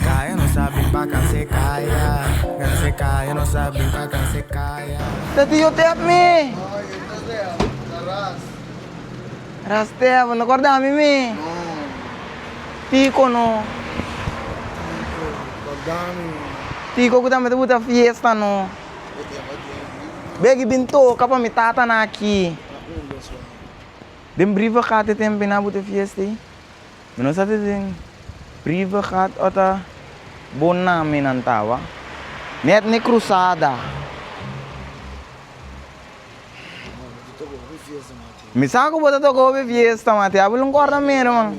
Kaya no sa bin pa kanse kaya Kanse kaya no sa bin pa kanse kaya. Tati yo te hep mi. No yo no te hep na ras. Ras te hep no korda mi mi. No no. Tiko no. Tiko korda mi mi. Tiko ku tambe ta buta fiesta no. E e aba den riva. Begi bin toka pa mi tata na aki. Na un dos wak. Den briva kate tempi na buta fiesta i. Mi no sa si tin priva gat o ta bo nami nan tawa. Net ni crusada. Mi sa cu bo ta toca hopi fiesta man. Te habel un corda mero man.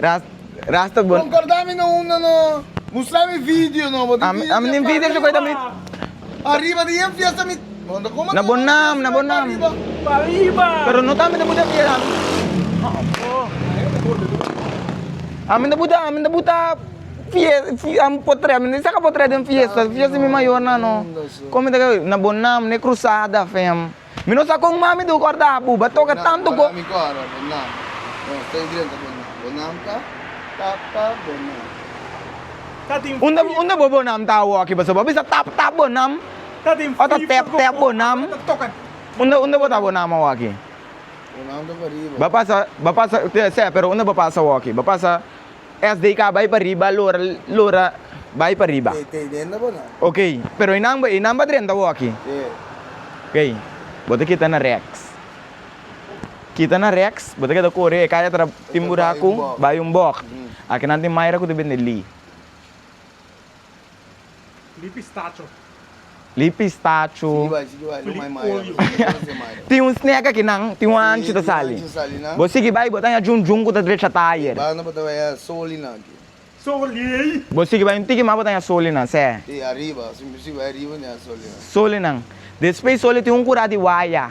Ras, ras ta bon. Konkorda mi no unda no mustra mi video no. Bo di video den party. Ariba di e fiesta mi. Na bo nam, na bo nam. Pariba. Pero no ta mi ta buta fiesta. Ami ta buta, ami ta buta fiesta, ami potre, ami ta saka potre den fiesta. Fiesta di mi mayornan no. Kon mi ta ke, na bo nam, na e krusada fem. Mi no sa kon mas mi debe corda bo, bo a toca tanto co. Para mi cora bo nan ta ta idrenta bo nan, bo nan ta ta ta bo nan. Unda unda bo bo nan ta awo aki pasobra bo a bisa tap tap bo nan o ta tep tep bo nan, unda unda bo ta bo nan awo aki? Bo nan ta pariba. Bo a pasa bo a pasa, te se pero unda bo a pasa awo aki? Bo a pasa. Esdei ka bai pa riba lora lora bai pa riba. Te te denda bo nan. Ok, pero e nan e nan ba drenta bo aki. Te. Ok, bo ta kita na rex. Kita na rex, bo ta keda kore e kai atra tin buraku, bai un bok. Aki nan tin Myra ku ta bende li. Li pistacho. Li pistacho. Sigi bai, sigi bai, lo mai mai ya lo, lo mai se mai ya. Tin un snake aki nan, tin un hanchi ta sali. Sí, tin un hanchi ta sali nan. Bo sigi bai, bo ta haña djun djun ku ta drecha ta ayer. Banda bo ta bai haña soli nan aki. Soli ei. Bo sigi bai un tiki mas bo ta haña soli nan, sè. Sí, ariba, si bo sigi bai ariba bo ta haña soli nan. Soli nan. Despues soli tin un kura di waya.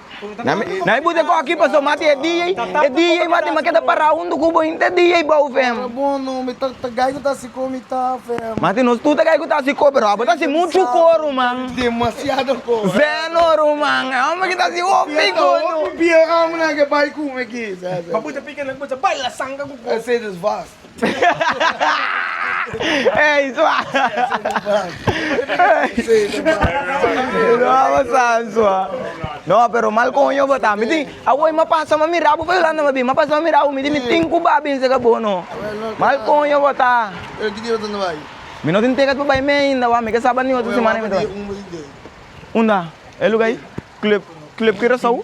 Nai bute koki paso mati e DJ e DJ mati ma keda para huntu ku bo inte DJ bou fem. Tabata bono mi ta gai ku ta si ko mi ta fem. Mati nos tu ta gai ku ta si ko pero abo ta si muchu ko ruman. Demasiado ko. Zeno ruman e hombre ki ta si hopi ko no. Hopi bier amo nan ke bai ku mi aki. Ba bute pika nan ku bo ta baila sanga ku ko. Ey sua. No, pero mal coño bota. Mi tin, awoy ma pasa ma mira bo pa Yolanda ma bin. Ma pasa ma mira bo, mi di mi tin ku ba bin seka bo no. Mal coño bota. Pero ki dia bo ta na bai? Mi no tin ticket pa bai mee ainda wa. Mi ke saba ni otro semana mi ta bai. Unda? E luga ei? Club, Club Curaçao?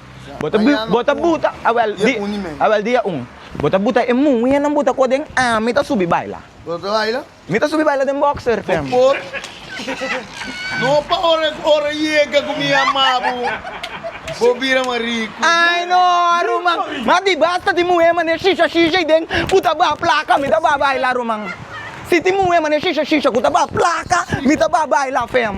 Bo ta buta, bo ta buta, awel di, awel dia un. Bo ta buta e muhernan bo ta koh den am, mi ta subi baila. Bo ta baila? Mi ta subi baila den boxer tem. Bo por? No pa ora cu ora yega cu mi a mabu bo bira mas rico. Ay no ruman, mas di basta tin muher maneer shisha shisha y den cu ta bah placa mi ta bah baila ruman. Si tin muher maneer shisha shisha cu ta bah placa mi ta bah baila fem.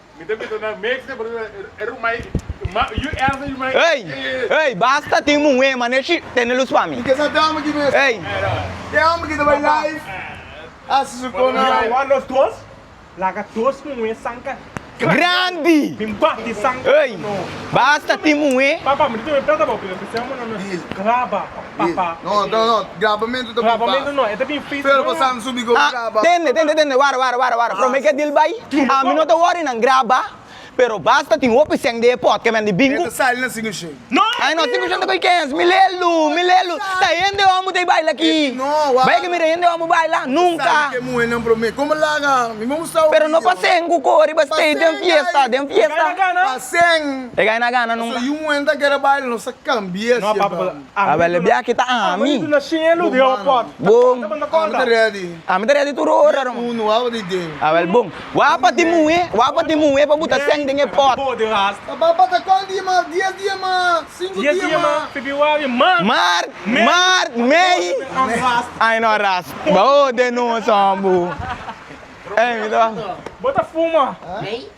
Ey! Ey! Basta tin muhé, mané shi, tene lus pa mi. Ey! Yawa nos dos, laga dos muhé sanka. Grandi! Ey! Basta tin muhé. Papa mi ta tene plata pa opinion spesial mano no e graba papa grabamentu ta bin fei pero pasan subi go graba tende tende tende wara wara wara wara prome ke dil bai ami no ta wori nan graba pero basta tin hopi seng de e pot ke mende bingu ta sali na sinku shen ai no sinku shen ta bai kens mi lelu mi lelu ta hende hom bu ta baila aki bai ke mira hende hom bu baila nunka pero no pa seng ku kori ba stay den fiesta den fiesta. Sen. E gay na gana nun. Paso yu muhé ta kere baila nos a cambia si e bam. Abel de bia kita ami. Ami ta ready tur ora ro. Abel bon. Wou pa tin muhé wou pa tin muhé pa buta sen den e pot. Papá pata cual dia mas dies dia mas cinco dia mas. Mar mar mei ai no ras ba hode nos hombo. Ei mi ta. Bo ta fuma.